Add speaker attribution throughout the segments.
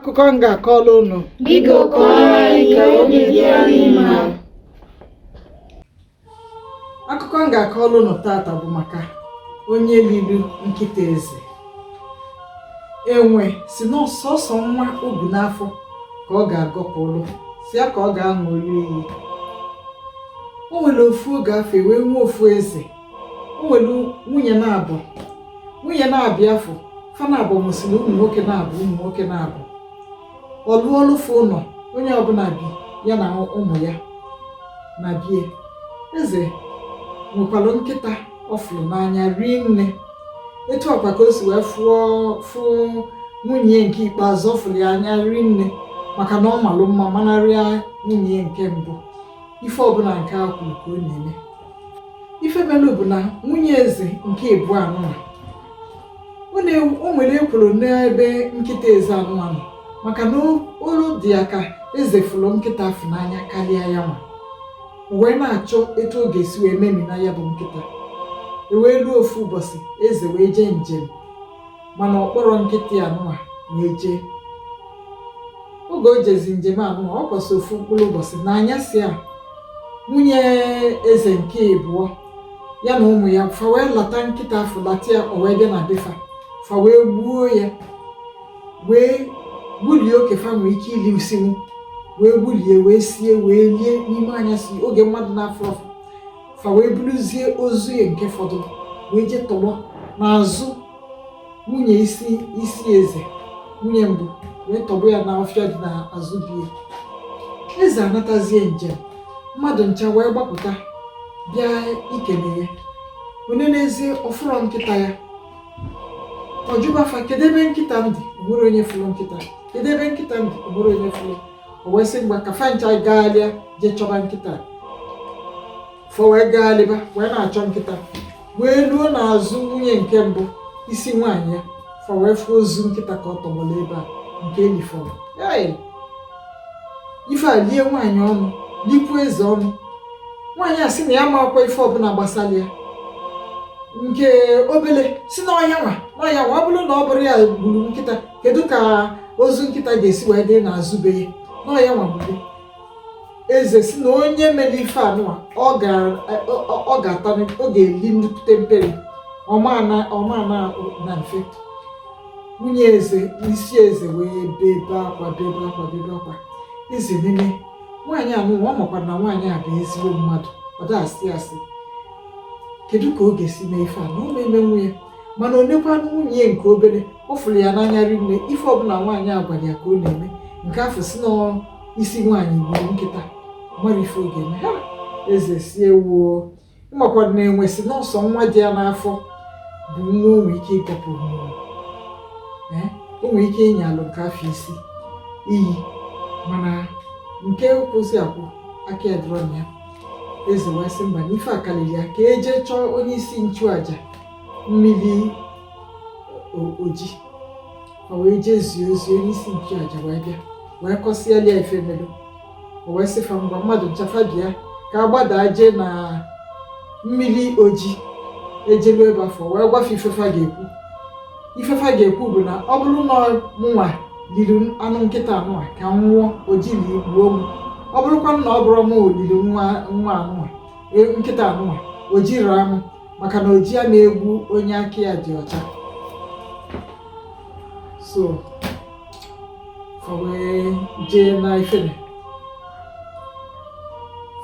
Speaker 1: akụkọ m ga-akọrọ unu
Speaker 2: Biko kọọrọ anyị ka obi dị anyị
Speaker 1: mma. akụkọ m ga-akọrọ unu taata bụ maka onye liri nkịta eze enwe sị na ọ sọsọ nwa o bu n'afọ ka ọ ga-agọpụrụ sọ ya ka ọ ga-aṅụlụ iyi o nwere ofu oge afụ e wee nwee ofu eze o nwere nwunye naabọ nwunye naabọ ya afụ fa naabọ mụsịrị ụmụ nwoke naabọ ụmụ nwoke naabọ ọ lụọlụ fa ụlọ onye ọbụla bi ya na ụmụ ya na be ya eze nwekwara nkịta ọ fụrụ n'anya rie nne etu a kwa ka o si wee fụọ fụ nwunye nke ikpeazụ ọ fụrụ ya anya rie nne maka na ọ malụ mma manarịa nwunye nke mbụ ife ọbụla nke a kwuru ka ọ na-eme ife melu bụ na nwunye eze nke ịbụọ anụnwa o nwere ekworo n'ebe nkịta eze anụnwa nọ maka na olu dị ya ka eze fụrụ nkịta afụ n'anya karịa ya nwa o wee na-achọ etu ọ ga-esi wee memina ya bụ nkịta e wee ruo ofu ụbọchị eze wee jee njem mana ọ kpọrọ nkịta ya anụwa wee jee oge o jezi njem anụwa ọ kwụsị ofu mkpụrụ ụbọchị n'anyasị a nwunye eze nke ịbụọ ya na ụmụ ya fa wee lata nkịta afụ lata ya o wee bịa na be fa fa wee gbuo ya wee gbulie oke fa nwee ike ilisinwu wee gbulie wee sie wee lie n'ime anyasị oge mmadụ na-afụrọ fa fa wee buruzie ozu ya nke fọdụ wee jee tọgbọ n'azụ nwunye isi isi eze nwunye mbụ wee tọgbọ ya n'ọfịa dị n'azụ be ya eze anatazie njem mmadụ ncha wee gbapụta bịa ikele ya o nenezie ọ fụrọ nkịta ya ọ jụba fa kedu ebe nkịta m dị o nwere onye fụrụ nkịta kedu ebe nkịta m dị o nwere onye fụrụ o wee sị ngwa ka fa ncha gagharịa jee chọba nkịta fa wee gagharịba wee na-achọ nkịta wee ruo n'azụ nwunye nke mbụ isi nwaanyị ya fa wee fụ ozu nkịta ka ọ tọgbọrọ ebe a nke e lifọrọ ife a lie nwaanyị ọnụ likwuo eze ọnụ nwaanyị a sị na ya amakwa ife ọbụla gbasara ya nke obele sị na ọ ya nwa na ọ ya nwa ọ bụrụ na ọ bụrọ ya gburu nkịta kedu ka ozu nkịta ga-esi wee dị n'azụ be ya na ọ ya nwa gburu eze sị na onye mere ife anụwa ọ ga-ata ọ ga-eli nnukwute mperi ọ ma-ana mfe nwunye eze isi eze wee bebe akwa bebe akwa bebe akwa eze nenee nwaanyị anụwa ọ makwara na nwaanyị a bụ ezigbo mmadụ ọ da-asị asị kedu ka ọ ga-esi mee ife a na ọ ma-emenwu ya mana o nekwanụ nwunye nke obere ọ fụrụ ya n'anya rinne ife ọbụla nwaanyị a gwara ya ka ọ na-eme nke afụ sị n'isi nwaanyị gburu nkịta mara ife ọ ga-eme ha eze sị ewoo makwara na-enwe sị n'ọ sọ nwa dị ya n'afọ bụ nwa o nwere ike ịkọpụ mmụọ Ee, o nwere ike ịnya alụ nke afụ isi iyi mana nke kwụsị akwụ aka ya dịrọ na ya eze wee sị mba na ife akalili ya ka e je chọọ onye isi nchụaja mmiri oji o wee jee zie ozi onye isi nchụaja wee bịa wee kọsịala ya ife melu o wee sị fa ngwa mmadụ ncha fa bịa ka a gbadaa jee na mmiri oji e jelu ebe afụ wee gwa fa ife fa ga-ekwu ife fa ga-ekwu bụ na ọ bụrụ na mụnwa lili anụ nkịta anụnwa ka m nwụọ oji ligbuo m ọ bụrụkwa na ọ bụrọ mụ lili nwa nwa anụnwa e, nkịta anụnwa oji raa m maka na oji ana egbu onye aka ya dị ọcha so fa wee jee na ifere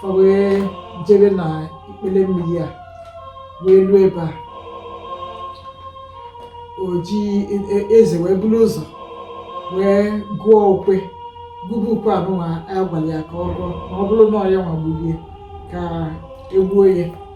Speaker 1: fa wee jebe na ikpele mmiri a wee ruo ebe a oji eze wee buru ụzọ wee gụọ ukwe gụba ukwe anụnwa a gwara ya ka ọ gụọ ma ọ bụrụ na ọ ya nwa gburu ya ka e gbuo ya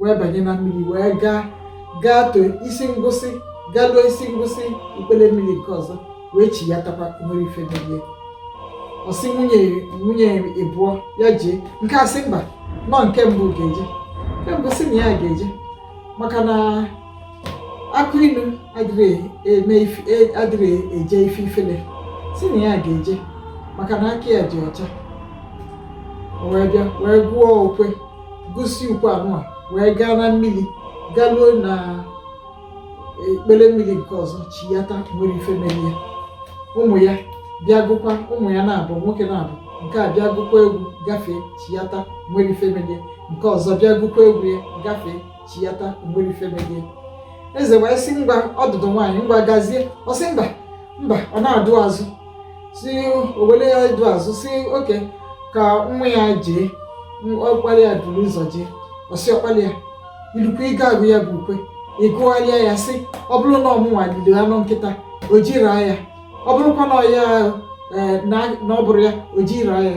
Speaker 1: wee banye na mmiri wee gaa gaa too isi ngwụsị galuo isi ngwụsị ikpele mmiri nke ọzọ wee chiyatakwa nwerọ ife mere ya ọ sị nwunye nwunye ịbụọ ya jee nke a sị mba na ọ nke mbụ ga-eje nke mbụ sị na ya ga-eje maka na akụ ilu adịrị eme e, adịrị eje ife ifele sị na ya ga-eje maka na aka ya dị ọcha o wee bịa wee gụọ ukwe gụsịa ukwe anụnwa wee gaa na mmiri galuo na ikpele mmiri nke ọzọ chiyata nwerọ ife mere ya ụmụ ya bịa gụkwa ụmụ ya naabọ nwoke naabọ nke a bịa gụkwa egwu gafee chiyata nwerọ ife mere ya nke ọzọ bịa gụkwa egwu ya gafee chiyata nwerọ ife mere ya eze wee sị ngwa ọdụdụ nwaanyị ngwa gazie ọ sị mba mba ọ na-adụ azụ si owele ya dụ azụ sị okay ka nwa ya jee ọkpala ya buru ụzọ jee ọ sị ọkpala ya i lukwa ị ga-agụ ya bụ ukwe ị gụgharịa ya sị ọ bụrụ na ọ mụnwa lili anụ nkịta oji raa ya ọ bụrụkwa na ọ ya e, na ọ bụrọ ya oji raa ya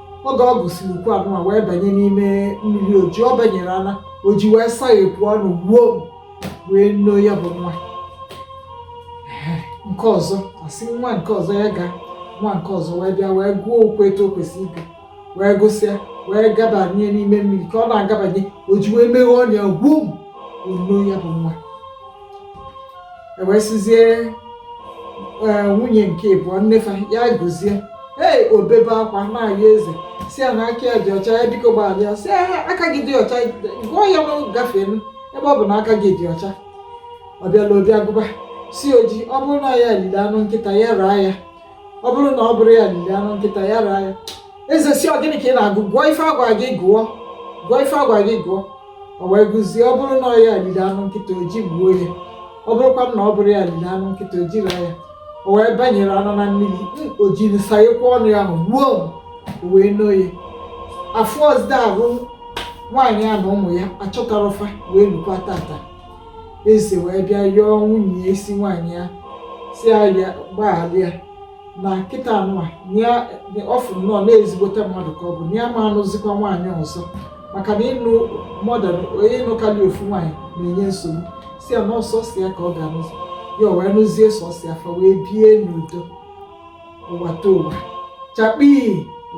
Speaker 1: oge ọ gụsịrị ukwe anụnwa wee banye n'ime mmiri oji ọ banyere ana oji wee saghepụ ọnụ gbom wee noo ya bụ nwa Ehe, nke ọzọ a sị nwa nke ọzọ ya gaa nwa nke ọzọ wee bịa wee gụọ ukwe etu o kwesịrị ịgụ wee gụsịa wee gabanye n'ime mmiri ka ọ na-agabanye oji wee meghe ọnụ ya gbom wee noo ya bụ nwa e wee sizie e, nwunye nke ịbụọ nnefa ya gụzie ee o bebe akwa na-ayọ eze si ya na aka ya dị ọcha ya biko gbaghalị ya si ya aka gị dị ọcha gụọ ya na gafee ebe ọ bụ na aka gị dị ọcha ọ bịala obi agụba si oji ọ bụrụ na ya lili anụ nkịta ya raa ya ọ bụrụ na ọ bụrọ ya liri anụ nkịta ya raa ya eze si ọ gịnị ka ị na-agụ gụọ ife a gwa gị gụọ gụọ ife a gwa gị gụọ o wee gụzie ọ bụrụ na ọ ya liri anụ nkịta oji gbuo ya ọ bụrụkwa na ọ bụrọ ya liri anụ nkịta oji raa ya o wee banyere anụ na mmiri ojiri sayekwa ọnụ ya ahụ gbuo o wee noo ya afụzirọ nwaanyị a na ụmụ ya achọtarọ fa wee lukwa tata eze wee bịa yọọ nwunye ya isi nwaanyị ya si ya gbaghalị ya na kịta anụwa ọ fụ nnọọ na ezigbote mmadụ ka ọ bụ na ya ama anụzikwa nwaanyị ọzọ maka na ịnụ more than one ịnụkarị ofu nwaanyị na-enye nsogbu si ya na ọ sọsọ ya ka ọ ga-anụzi ya o wee nụzie sọsọ ya fa wee bie n'udo ụwatụwa chakpii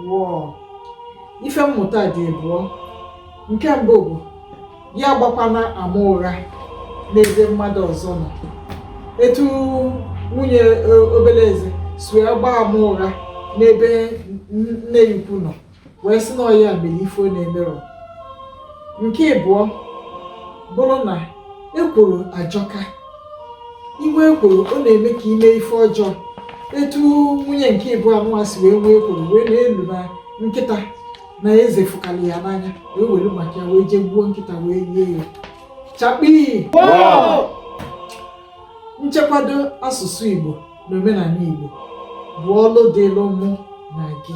Speaker 1: wọọ ife mmụta dị ịbụọ nke mbụ bụ ya agbakwana ama ụgha n'ebe mmadụ ọzọ nọ etu nwunye e, obele eze si wee gbaa ama ụgha n'ebe nne ya ukwu nọ wee sị na ọ ya mere ife ọ na-emerọ nke ịbụọ bụrụ na ekworo ajọka inwe ekworo ọ na-eme ka ime ife ọjọọ etu nwunye nke ịbụọ anụwa si wee nwee ekworo wee na-elo na nkịta na eze fụkalị ya n'anya wee were maka ya wee jee gbuo nkịta wee lie ya chakpii nchekwado asụsụ igbo na omenala igbo bụ ọlụ dịlụ mụ na gị